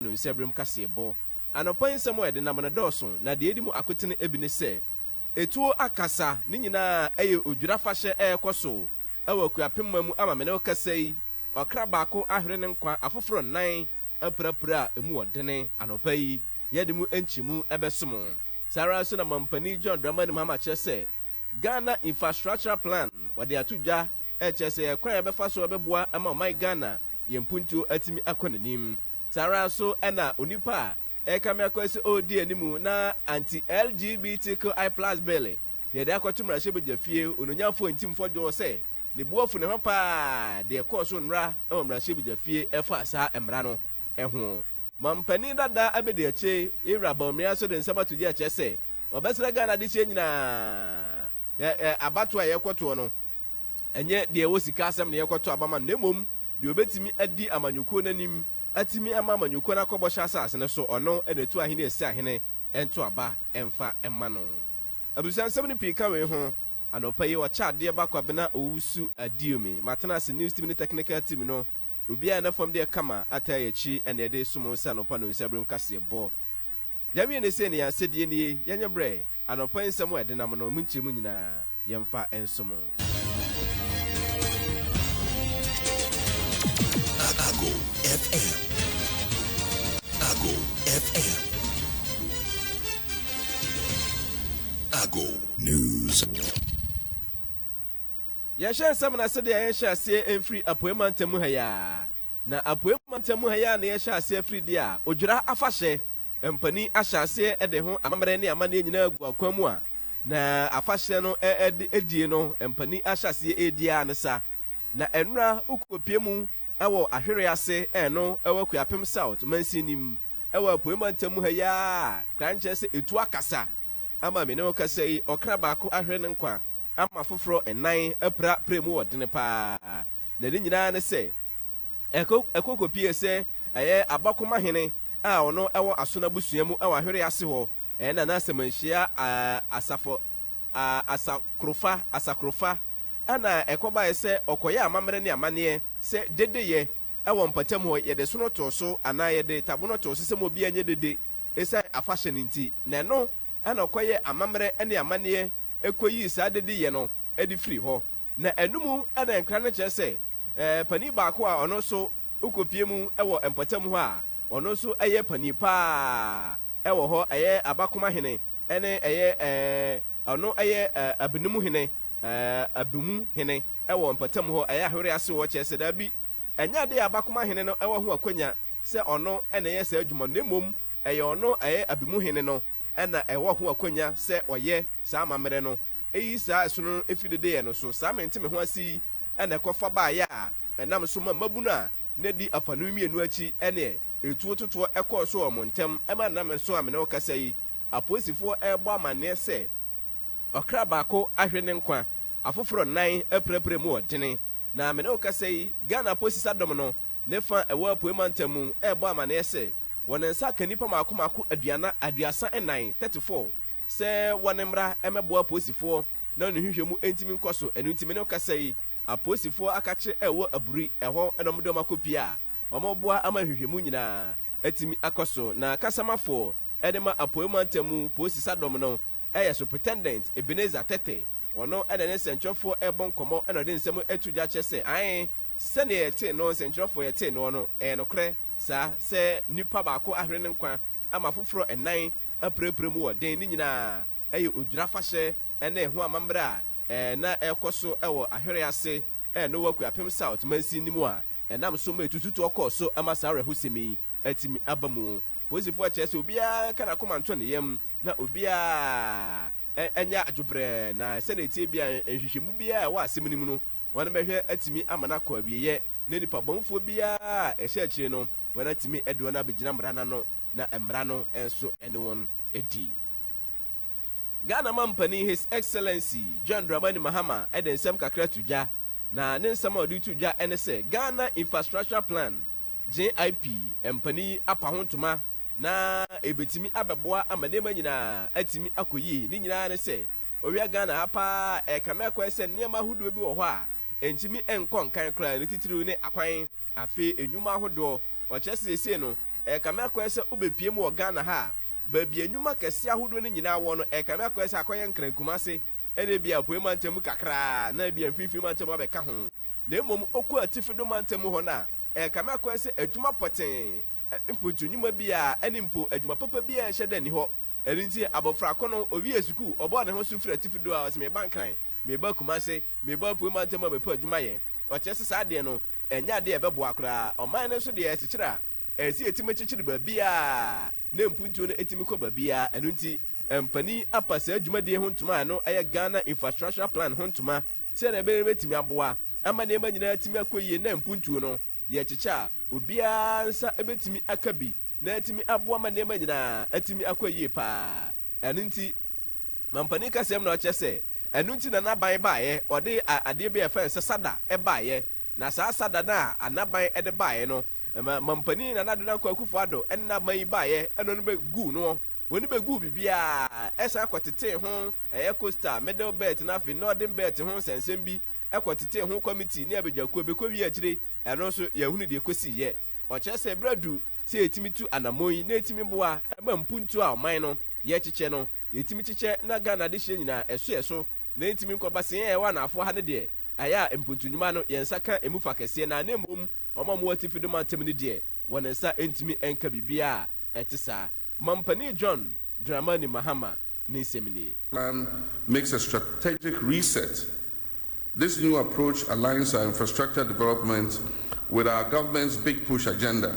Bible no nsɛbirem kaseɛbɔ. Anɔpa yi nsɛm a yɛde nam no dɔɔso, na deɛ edi mu akotene ebi ne sɛ, Etuo akasa, ne nyinaa ɛyɛ odwira afahyɛ a ɛrekɔ so ɛwɔ Akuapemma mu ama me ne wo kasa yi, ɔkra baako ahwere ne nkwa, afoforo nnan apirapira a emu wɔ dene. Anɔpa yi yɛde mu nkyemu ɛbɛso mo. Saa ara nso na Mampanin John Dramani Mahama kyerɛ sɛ, Ghana Infrastructural Plan wɔde ato dwa ɛkyerɛ sɛ ɛkwan a yɛbɛfa so ɛbɛboa ama ɔman Ghana, yɛn mpuntuo atumi akɔ n'anim. Saa ara nso na onipa a ɛrekame akɔyɛ sɛ ɔredi anim na Anti-LGBTQI Plus Bill yɛde akɔto mmarahyɛbadwafie, Onuonyamfoɔ Ntim Fɔdwo sɛ ne bo afu ne ho pa ara deɛ ɛkɔɔ so nnora wɔ mmarahyɛbadwafie ɛfa saa mmara no ho. Mampanin dada Abedi Akyei, Yewura Bawumia nso de nsɛm ato gya kyerɛ sɛ ɔbɛsrɛ Ghana adehyeɛ nyinaa yɛ abatoɔ a yɛrekɔtoɔ no Ɛnyɛ deɛ ɛwɔ sika asɛm na yɛrekɔto aba ma no, na mmom deɛ ɔbɛtumi adi amanyɔkuo no anim, atumi ama amanyɔkuo no akɔ bɔhyɛ asase no so, ɔno na ɛtu ahene a ɛsi ahene nto aba mfa mma no. Abusuansɛm no pii ka wei ho. Anɔpa yi, wɔkyɛ adeɛ ba Kwabena Owusu Adiumi. Matena ase news team ne technical team no, obiara a na fam deɛ kama, ataa yɛn akyi na yɛde som wo sɛ anɔpa no nsaberem kaseɛbɔ. Yɛawie no sei na yɛn asɛdeɛ nie, yɛnyɛ berɛ, anɔpa yi nsɛm a ɛdenam no, ɛmu nkyerɛmu nyinaa. yɛmfa nsom. Ago FM. Ago FM. Ago News. Yɛhyɛ nsɛm na sɛdeɛ yɛhyɛ aseɛ mfiri apuei mantam mu ha yi a, na apuei mantam mu ha yi a na yɛhyɛ aseɛ afiri deɛ a odwira afahyɛ mpanin ahyɛ aseɛ de ho amammerɛ ne amanneɛ nyinaa gu akwan mu a Na afahyɛ no die no mpanin ahyɛ aseɛ redi ara ne sa. Na ɛno ara wokɔpue mu wɔ Ahwereɛ ase ɛno wɔ Akuapem South mansin no mu wɔ Apueeɛ mantam mu ha yi ara a koraa nkyerɛ sɛ ɛtu akasa ama me ne wo kasa yi ɔkra baako ahwere ne nkwa ama afoforɔ nnan apira prɛ mu ɔdene pa ara na ne nyinaa ne sɛ ɛkɔ ɛkɔkɔpue sɛ ɛyɛ Abakoma hene a ɔno wɔ Asono abusua mu wɔ Ahwereɛ ase hɔ Ɛnna na sɛ manhyia asafo asakorofa asakorofa a na ɛkɔbae sɛ ɔkɔyɛ amammerɛ ne amanneɛ sɛ dedeyɛ wɔ mpɔtam hɔ, yɛde sono too so anaa yɛde tabono too so sɛ ma obiara nyɛ dede esiane afahyɛ no nti, na ɛno na ɔkɔyɛɛ amammerɛ ne amanneɛ koyii saa dedeyɛ no de firii hɔ. Na ɛno mu na nkra no kyerɛ sɛ panin baako a ɔno nso wokopue mu wɔ mpɔtam hɔ a ɔno nso yɛ panin paa. wɔ hɔ, ɛyɛ abakoma hene, ɛne ɛyɛ eh, ɔno ɛyɛ eh, abenemu hene, eh, abemu hene ɛwɔ mpɔtam hɔ, ɛyɛ ahwere ase wɔ, kyerɛ sɛ daabi, ɛnyɛ adeɛ a abakoma hene no ɛwɔ ho akwanya sɛ ɔno ɛna ɛyɛ saa adwuma no, na mmom ɛyɛ ɔno ɛyɛ abemu hene no ɛna ɛwɔ ho akwanya sɛ ɔyɛ saa amammerɛ no, ɛyi saa ɛsono no ɛfiri dedeɛ no so, saa mente me ho ase yi ɛna ɛkɔfa baeɛ a ɛnam so ma mmabunu a na ɛdi afaanu mmienu akyi ɛneɛ. Etuo totoɔ kɔɔ so wɔ wɔn ntam ma nnamnson a me ne wo rekasa yi, apolisifoɔ rebɔ amanneɛ sɛ ɔkra baako ahwere ne nkwa, afoforɔ nnan apirapira mu wɔ dene. Na me ne wo rekasa yi, Ghana Apolisisa Dɔm no ne fa a ɛwɔ Apuei Mantam mu rebɔ amanneɛ sɛ wɔn nsa aka nnipa mmaako mmaako aduana aduasa nnan, 34, sɛ wɔn mmra mmɛboa apolisifoɔ na wɔn nhwehwɛmu ntumi nkɔ so. Ɛno nti me ne wo rekasa yi, Apolisifo akakye a ɛwɔ Aburi ɛhɔ na wɔde wɔn akɔ pia a wɔboa ama nhwehwɛmu nyinaa atumi akɔ so na kasamafo de ma Apuei Mantam mu Polisi Sadɔm no yɛ Superintendent Ebenezer Tete ɔno na ɛne nsɛnkyerɛwfo rebɔ nkɔmmɔ na ɔde nsɛm ɛto dwa kyerɛ sɛ ae sɛnea yɛtee no nsɛnkyerɛwfo yɛtee noɔ no ɛyɛ nokorɛ saa sɛ nipa baako ahwere ne nkwa ama afoforɔ nnan apirapira mu wɔ den ne nyinaa ɛyɛ odwira fahyɛ ne ho amammerɛ a na ɛrekɔ so wɔ Ahwere ase ne wɔ Akuapem South mansin no mu a ɛnam so ma etututoɔ kɔɔ so ma saa awerɛhosɛm yi atumi aba mu. Polisifo kyerɛ sɛ obiara nka n'akoma nto ne yam na obiara nyɛ adwobrɛɛ na sɛnea ɛteɛ biara nhwehwɛmu biara a ɛwɔ asɛm no mu no wɔbɛhwɛ atumi ama no akɔ awieɛ na nnipa bɔnefoɔ biara a ɛhyɛ akyire no wɔatumi de wɔn abɛgyina mmara no ano na mmara no nso ne wɔn adi. Ghana Mampanin His Excellency John Dramani Mahama de nsɛm kakra to dwa, na ne nsɛm a ɔde reto dwa ne sɛ Ghana Infrastructure Plan, GIP, mpanin yi apa ho ntoma na ɛbɛtumi abɛboa ama nneɛma nyinaa atumi akɔ yie. Ne nyinaa ne sɛ ɔwia Ghana ha paa ɛrekame akɔɛ sɛ nneɛma ahodoɔ bi wɔ hɔ a ɛntumi nkɔ nkan koraa, ne titiriw ne akwan, afei nnwuma ahodoɔ. Ɔkyerɛ sɛ seesei no ɛrekame akɔɛ sɛ wobɛpie mu wɔ Ghana ha a, baabi a nnwuma kɛse ahodoɔ no nyinaa wɔ no, ɛrekame akɔyɛ sɛ akɔyɛ Nkran Kumase, ɛna ebia Apuei Mantam mu kakraa, na ebia Mfinfini Mantam abɛka ho. Na mmom wokɔ Atifi do Mantam mu hɔ no a, ɛrekame akɔyɛ sɛ adwuma pɔtee, mpontu nnwuma biara, ɛne mpo adwuma papa biara nhyɛ da nni hɔ. Ɛno nti, abɔfra ko no, ɔwiee sukuu, ɔbɔɔ ne ho so firii Atifi do a, ɔse, Meba Nkran, meba Kumase, meba Apuei Mantam abɛpɛ adwuma ayɛ. Ɔkyerɛ sɛ saa adeɛ no, ɛnyɛ adeɛ a ɛbɛboa koraa. Ɔman no nso deɛ, ɛrekyekyere a, Ɛyɛ sɛ yɛtumi kyekyere baabiara na mpuntuo no tumi kɔ baabiara. Ɛno nti, mpanin apa saa dwumadie ho ntoma a ɛno yɛ Ghana Infrastructural Plan ho ntoma sɛdeɛ ɛbɛyɛ na ɛbɛtumi aboa ama nneɛma nyinaa atumi akɔ yie na mpuntuo no, yɛkyekyɛ a, obiara nsa bɛtumi aka bi na atumi aboa ma nneɛma nyinaa atumi akɔ yie pa ara. Ɛno nti, mampanin kasɛm na ɔkyerɛ sɛ ɛno nti na n'aban baeɛ, ɔde adeɛ bi a yɛfrɛ no sɛ sada baeɛ Na saa asada no a Anaban de baeɛ no, ma Mampanin Nana Addo Dankwa Akufo Addo na ma yi baeɛ ɛno no bɛ guu noɔ. Wɔn bɛ guu biribiara, ɛsan kɔ tetee ho ɛyɛ Coastal, Middle Belt na afei Northern Belt ho nsɛnsɛm bi, ɛkɔ tetee ho Committee ne abadwakuo, bɛ kɔ wie akyire ɛno nso yɛahunu deɛ ɛkɔsiiɛ. Ɔkyerɛ sɛ berɛ adu sɛ yɛtumi tu anammɔn yi na ɛtumi boa ma mpuntuo a ɔman no yɛkyekyɛ no yɛtumi kyekyɛ na Ghana adehyeɛ nyinaa ɛso yɛ so na ɛntumi nkɔ basee ɛwɔ anaafoɔ ha no deɛ Ayɛ a mpontu nnwuma no, yɛn nsa ka emu fa kɛseɛ no ara, na mmom wɔn a wɔwɔ atifi de mantam no deɛ, wɔn nsa ntumi nka biribiara a ɛte saa. Mampanin John Dramani Mahama ne nsɛm nie. plan makes a strategic reset. This new approach aligns our infrastructure development with our government's big push agenda.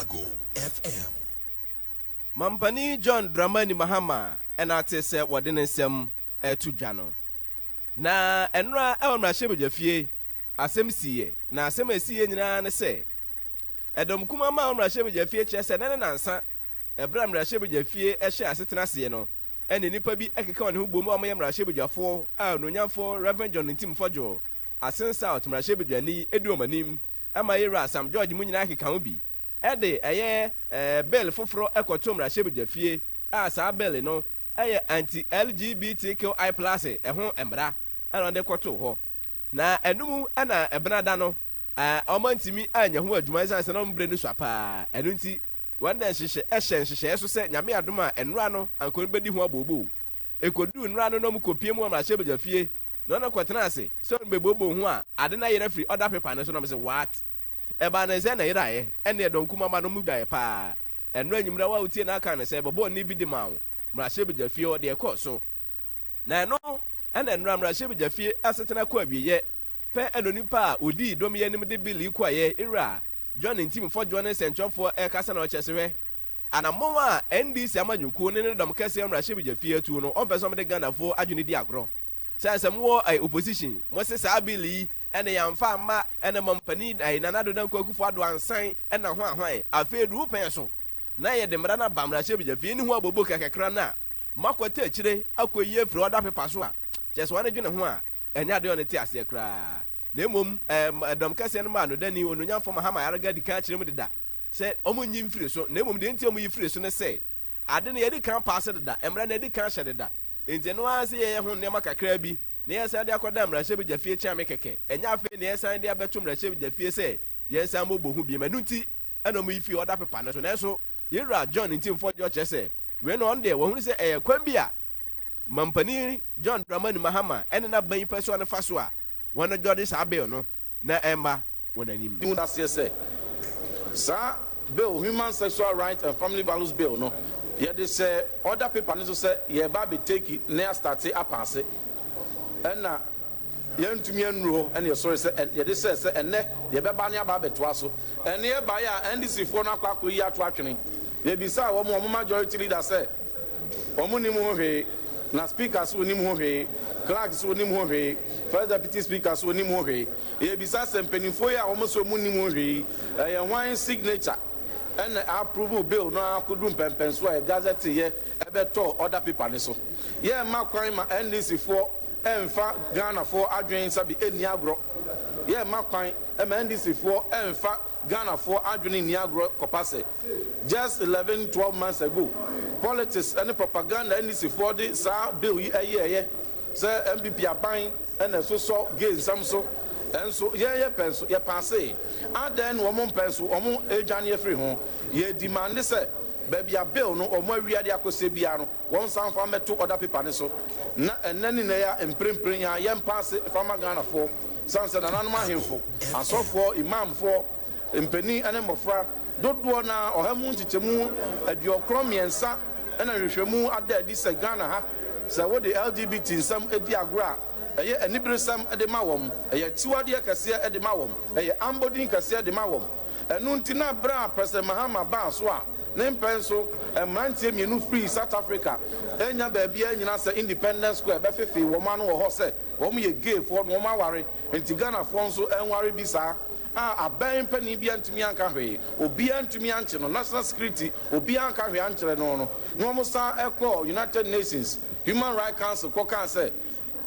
Ago FM. Mampanin John Dramani Mahama na ate sɛ wɔde ne nsɛm reto dwa no. Na nnora wɔ mmarahyɛbadwafie, asɛm siiɛ, na asɛm a ɛsiiɛ nyinaa ne sɛ, Ɛdɔm kumaa maa wɔ mmarahyɛbadwafie kyerɛ sɛ nnɛ ne nansa, ɛberɛ a mmarahyɛbadwafie hyɛɛ asetena aseɛ no, ɛna nnipa bi keka wɔn ho boom a wɔyɛ mmarahyɛbadwafoɔ a Onuonyamfoɔ Rev John Ntim Fɔdwo, Asen South mmarahyɛbadwani di wɔn anim, ma yɛn wura Sam George mu nyinaa keka ho bi de ɛyɛ Bill foforo kɔtoo mmarahyɛbedwafie a saa Bill no yɛ Anti-LGBTQI Plus ho mmara na ɔde kɔtoo hɔ. Na ɛno mu na ɛbena da no wɔantumi annya ho adwuma ɛsiane sɛ na wɔn berɛ no sua paa ɛno nti wɔn na ɛhyehyɛ hyɛ nhyehyɛeɛ so sɛ Nyame adom a nnora no anka wɔn bɛdi ho abooboo. Ɛkɔduu nnora no na wɔkɔpie mu wɔ mmarahyɛbedwafie Na ɔno kɔtenaa ase sɛ ɔrebɛbooboo ho a, ade no ayera firi ɔda pepa no so, na mese, What? Ɛbaa no nsɛ na ɛyeraeɛ, ɛnneɛ dɔn kumaba no mu dwaeɛ pa ara. Ɛno anwummerɛ wo a wotiee no aka no sɛ bɛbɔɔ nne bi de maa wo, mmarahyɛbadwa fie hɔ, deɛ ɛkɔɔ so. Na ɛno na nnora mmarahyɛbadwa fie asetena kɔ awieɛ pɛ, ɛna onipa a ɔdii dɔm yi anim de Bill yi kɔeɛ, Ira, John Ntim Fɔdwoɔ ne Sɛnkyerɛfoɔ rekasa na ɔkyerɛ sɛ, Hwɛ anammɔn a NDC amanyɔkuo ne ne dɔm kɛseɛ wɔ mmarahyɛbadwa fie atuo no, wɔmpɛ sɛ wɔde Ghanafoɔ adwene di agorɔ. Sɛ sɛ mowɔ ɛɛ opposition mo se saa bill yi ɛna yɛnfa mma ɛna mam panin ɛɛ Nana Addo Dankwa Akufo Addo ansan ɛna hwan hwan afei aduru pɛn so na yɛde mmara no aba mmarahyɛbagya afei ne ho abobo kakakra no a moakɔte akyire akɔ yi afiri order paper so a kyerɛ sɛ wɔn adwene ho a ɛnyɛ adeɛ wɔn te aseɛ koraa na mmom ɛɛ ɛdɔm kɛseɛ no ma anodani onuonyamfo Mahama Ayariga di kan akyerɛ mu deda sɛ wɔn nyi mfiri so na mmom deɛ nti a wɔyi firi so ne sɛ ade no yɛdi kan paase deda mmara no yɛdi kan hyɛ deda Enti ɛno ara sɛ yɛyɛ ho nneɛma kakraa bi na yɛresan de akɔda mmarahyɛbedwafie kyea me kɛkɛ. Ɛnyɛ afei na yɛresan de abɛto mmarahyɛbedwafie sɛ yɛnsan mmɔbɔ hu bio. Ɛno nti na wɔyi fii ɔda pepa no so. Nanso yɛn wura John nti mfɔdwoɔ kyerɛ sɛ wei no ɔno deɛ wahunu sɛ ɛyɛ kwan bi a Mampanin John Dramani Mahama ne n'aban pɛsoa no fa so a wɔdwɔre saa Bill no. na ɛmma wɔn anim. Hu aseɛ sɛ saa bill Human Sexual Rights and Family Values Bill no yɛde hyɛɛ order paper no so sɛ yɛreba abɛ take na yɛastarte apaase ɛna yɛantumi annuru hɔ ɛna yɛsɔre sɛ yɛde hyɛɛ sɛ ɛnnɛ yɛbɛba ne aba abɛtoa so ɛne ɛbaeɛ a NDC foɔ no akɔ akɔyi ato atwene yɛbisaa wɔn wɔn majority leader sɛ Wɔn nnim ho hwee, na Speaker nso nnim ho hwee, Clerk nso nnim ho hwee, First Deputy Speaker nso nnim ho hwee. Yɛrebisa sɛ, mpaninfoɔ yi a wɔn se wɔn nnim ho hwee yi, ɛyɛ hwan signature na approve bill no ara kɔduru mpɛnpɛnsoɔ a yɛgazetteeɛ bɛtɔɔ order paper no so? Yɛremma kwan ma NDC foɔ mmfa Ghanafoɔ adwene nsa bi nni agorɔ. Yɛremma kwan ma NDC foɔ mmfa. Ghanafoɔ adwene nni agorɔ kɔpa sɛ just eleven, twelve months ago politics ne propaganda NDCfoɔ de saa bill yi yɛɛyɛ sɛ NPP aban na ɛsosɔ gay nsɛm so nso yɛn yɛ pɛ nso yɛ paasee. Adɛn na wɔn mpɛ nso wɔn ɛredwane afiri ho? Yɛredimande sɛ baabi a bill no wɔn awia de akɔsɛ biara no, Wɔnsan mfa mmɛto order paper no so na ɛnnɛ ne nnɛ yi a mprempren yi ara yɛmpa ase mfa mma Ghanafoɔ esiane sɛ nananom ahemfo, asɔfoɔ, Imamfoɔ, mpanin ne mmɔfra dodoɔ no ara ɔha mu nkyekyɛmu aduɔkron mmiɛnsa na nhwehwɛmu ada adi sɛ Ghana ha sɛ wode LGBT nsɛm di agorɔ a ɛyɛ aniberesɛm de ma wɔn, ɛyɛ akyiwadeɛ kɛseɛ de ma wɔn, ɛyɛ ambɔdin kɛseɛ de ma wɔn. Ɛno nti na bere a President Mahama baa so a ne mpɛn so mmeranteɛ mmienu firii South Africa annya baabiara annyina sɛ Independence Square bɛfefee wɔn ano wɔ hɔ sɛ wɔn yɛ gay foɔ na wɔn aware nti Ghanafoɔ nso nware bi saa a abɛn panin biara ntumi anka hwee, obiara ntumi ankye no, national security obiara anka hwee ankyerɛ no no na wɔsan kɔɔ United Nations Human Rights Council kɔkaa sɛ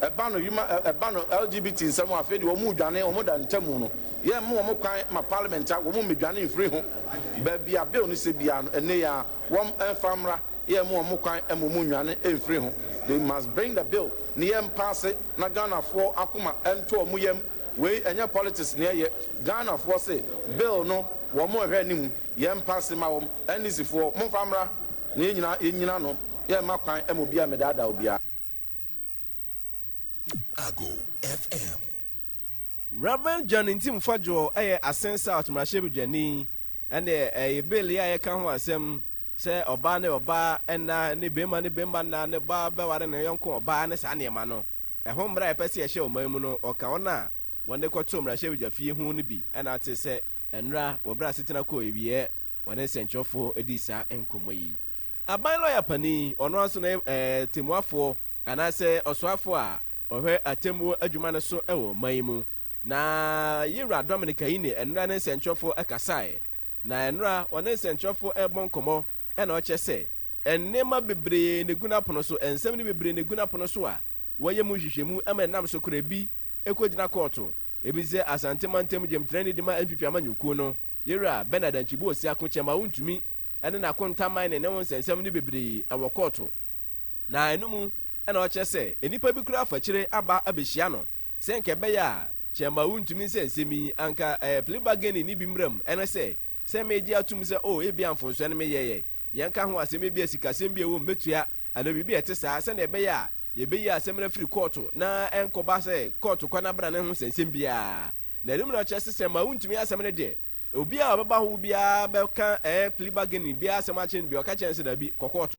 Ɛba no huma ɛba no LGBT nsɛm a afei deɛ wɔn redwane wɔn da ntamu no yɛn mma wɔn kwan ma parliament a wɔn mmedwane mfiri ho baabi a bill no sɛ biara no ɛnnɛ yi ara wɔn mfa mmra yɛn mma wɔn kwan ma wɔn nnwane mfiri ho they must bring the bill no yɛn paase na Ghanafoɔ akoma ntɔ wɔn yam wei ɛnyɛ politics na ɛyɛ Ghanafoɔ se bill no wɔn rehwɛ anim yɛn paase ma wɔn NDCfoɔ momfa mmra na yɛn nyinaa yɛn nyina ano yɛn mma kwan ma obiara mmedaadaa obiara. Ago FM. Rev. John Ntim Fadwoɔ yɛ Asen South mmarahyɛbedwani ɛne ɛyi bill yi a yɛka ho asɛm sɛ ɔbaa ne ɔbaa nna ne bɛɛma ne bɛɛma nna ne ɔbaa bɛware ne yɔnko ɔbaa ne saa nneɛma no ɛho mmara a yɛpɛ sɛ yɛhyɛ ɔman mu no ɔka wɔn a wɔde kɔtoo mmarahyɛbedwa fie ho no bi ɛna ate sɛ ɛnora wɔ berɛ a asetena kɔɔ awieɛ wɔne nsɛnkyerɛfoɔ dii saa nkɔmmɔ yi. Aban lɔya panin yi, ɔno ara nso na ɔyɛ Atemmuafoɔ anaasɛ Ɔsoafoɔ a ɔhwɛ Atemmuo adwuma no so wɔ ɔman yi mu. Na Yewura Dominic Ayine nnora ne nsɛnkyerɛwfoɔ kasaeɛ. Na nnora ɔne nsɛnkyerɛwfoɔ rebɔ nkɔmmɔ na ɔkyerɛ sɛ nneɛma bebree na ɛgu n'apono so, nsɛm no bebree na ɛgu n'apono so a wɔyɛ mu nhwehwɛmu ma ɛnam so kora ebi kɔgyina kɔɔto. Ebi te sɛ Asante mantam gyamtrani de ma NPP amanyɔkuo no, Yewura Bernard Antwi Boasiako kyɛ ma wɔntumi ne n'akontaman ne ne ho nsɛnsɛm no bebree wɔ kɔɔto, na ɛno mu na ɔkyerɛ sɛ nnipa bi koraa fa kyire aba abehyia no sɛ anka ɛbɛyɛ a Kyerɛma wontumi nsɛ nsɛm yi anka ɛɛ plea bargaining no bi mmram ɛne sɛ sɛ meregye atom sɛ oh ebia mfomsoɔ no meyɛeɛ yɛnka ho asɛm ebia sikasɛm bi a ɛwom mɛtua anaa biribi a ɛte saa sɛnea ɛbɛyɛ a yɛbɛyi asɛm no afiri kɔɔto na ɛnkɔba sɛ kɔɔto kwan abena ne ho nsɛnsɛm biara na ɛno mu na ɔkyerɛ sɛ Kyerɛma wontumi asɛm no deɛ Obi a ɔbɛba hɔ biara bɛka ɛɛ plea bargaining biara asɛm akyerɛ no bi, ɔka kyerɛ no sɛ dabi, kɔ kɔɔto.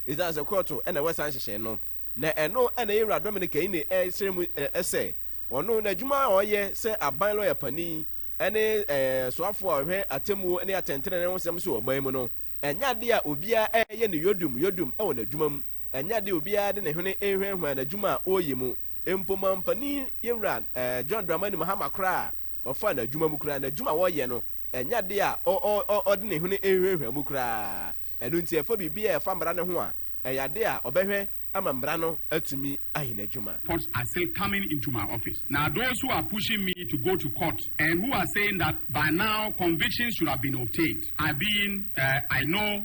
Esiane sɛ kɔɔto na ɛwɔ saa nhyehyɛe no, na ɛno na yɛn Wura Dominic Ayine srɛ mu sɛ ɔno n'adwuma a ɔyɛ sɛ aban lɔya panin ne ɛɛ soafo a ɔhwɛ atemmuo ne atɛntrenee ho nsɛm so wɔ ɔman mu no, ɛnyɛ ade a obiara yɛ no yodom yodom wɔ n'adwuma mu, ɛnyɛ ade a obiara de ne hwene hwanhwan n'adwuma a ɔreyɛ mu, mpo mampanin yɛn Wura John Dramani Mahama koraa. Ɔfa n'adwuma mu koraa, n'adwuma a ɔyɛ no, ɛnyɛ ade a ɔde ne hwene rehuahua mu koraa. Ɛno nti, ɛfa biribi a ɛfa mmara no ho a, ɛyɛ ade a ɔbɛhwɛ ama mmara no atumi ayɛ n'adwuma. Courts are still coming into my office na those who are pushing me to go to court and who are saying that by now convictions should have been obtained are being uh, I know.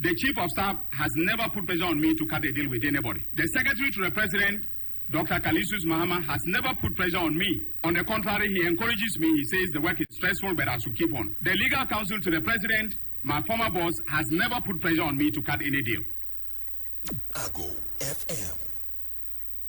The chief of staff has never put pressure on me to cut a deal with anybody. The secretary to the president Doctor Kalisus Mahama has never put pressure on me. On the contrary, he encourages me. He says the work is stressful, but I should keep on. The legal counsel to the president, my former boss, has never put pressure on me to cut any deal. Ago FM.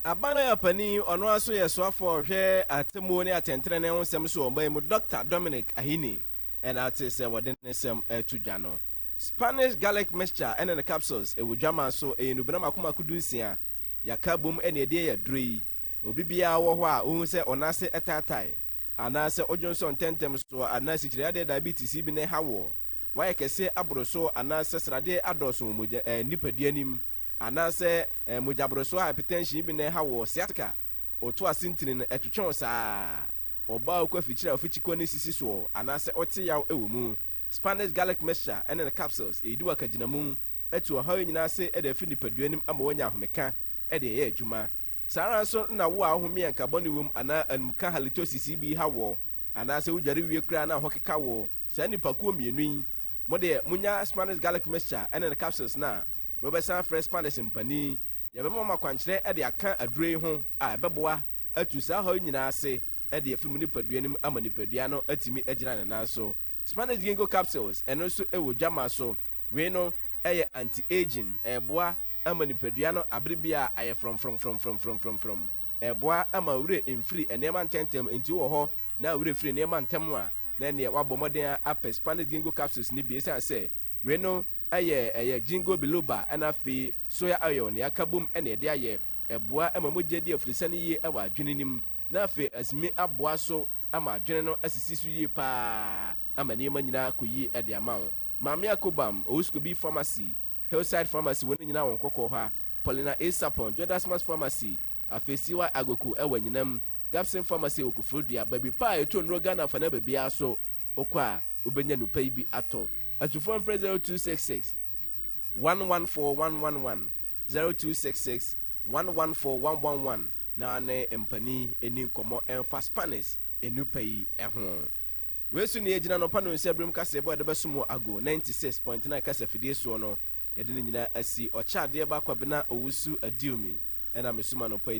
Aban a panin ɔno ara so yɛ soafoɔ a ɔhwɛ atemmuo ne atɛntrenee ho nsɛm so wɔ ɔman mu, Dɔkta Dominic Ahini, na ate sɛ wɔde ne nsɛm ato dwa no. Spanish garlic mixture ne ne capsules wɔ dwaman so, ɛyɛ nnubena mako mako dunsia, yɛaka abom na ɛde ayɛ aduro yi. Obi biara wɔ hɔ a ɔhu sɛ ɔnan ase taatae, anaa sɛ odwonsɔ ntɛmntɛm so, anaa sikyiriadeɛ diabetes bi na ɛha woɔ, woayɛ kɛse aboro so, anaa sɛ sradeɛ adɔɔso wɔ mogya ɛɛ nipadua no mu, anaa sɛ ɛɛ mogyaborosoɔ hypertension bi na ɛha woɔ, sciatica, ɔto ase ntini no ɛtwetwe wo saa, ɔbaa a ɔkɔ afikyire a ɔfikyikɔ no sisi soɔ, anaa sɛ wote yaw wɔ mu. Spanish garlic mixture ne ne capsules, eyi de wɔ akagyinamu, atu ɔhaw yi nyinaa ase de afi nipadua anim ama wanya ahomeka de ayɛ adwuma. Saa ara nso na wo a wohome a nka bɔne wom anaa anumka halitosis yi bi ha wo, anaasɛ wodware wie koraa na ho keka wo, saa nnipakuo mmienu yi, mo deɛ monya Spanish garlic mixture ne ne capsules no a, mobɛsan afrɛ Spanish mpanin, yɛbɛma mo akwankyerɛ de aka aduro yi ho a ɛbɛboa atu saa ɔhaw yi nyinaa ase. de afi mu nipadua no mu ama nipadua no atumi agyina ne nan so. Spanish Ginkgo capsules, ɛno nso wɔ dwammaa so. Wei no yɛ anti-aging, ɛboa ma nipadua no abere biara ayɛ frɔmfrɔmfrɔmfrɔmfrɔmfrɔmfrɔm. Ɛboa ma wo werɛ mfiri nneɛma ntɛmntɛm, enti wowɔ hɔ na wo werɛ firi nneɛma ntɛm a, na ɛnneɛ woabɔ mmɔden ara apɛ Spanish Ginkgo capsules no bi, ɛsiane sɛ wei no yɛ ɛyɛ Ginkgo biloba na afei soya oil na yɛaka bom na yɛde ayɛ. Ɛboa ma mogya di afurusa no yie wɔ adwene no mu. na afei atumi aboa so ama adwene no asisi so yie pa ara ama nneɛma nyinaa akɔ yie de ama wo. Maame Akobam, Owuskobi Pharmacy, Hillside Pharmacy, wɔn nyinaa wɔ Nkɔkɔɔ ha, Paulina A. Sapon, Jodasmas Pharmacy, afei CY Agoku wɔ Anyinam, Gabson Pharmacy wɔ Koforidua, baabi pa a yɛtɔ nnuro Ghana afanan baabiara so wokɔ a wobɛnya nnuro pa yi bi atɔ. Atufoɔ mfrɛ 0266 114 111, 0266 114 111. na ne mpanin nni nkɔmmɔ mfa Spanish nnupa yi ho. Wei so nea egyina anɔpa nnɔnsia birim kaseɛbɔ a yɛde bɛsom wɔ Ago ninety six point nine kasafidie soɔ no, yɛde ne nyinaa asi Ɔkyɛ Adeɛ Ba Kwabena Owusu Adiumi na mesum anɔpa yi.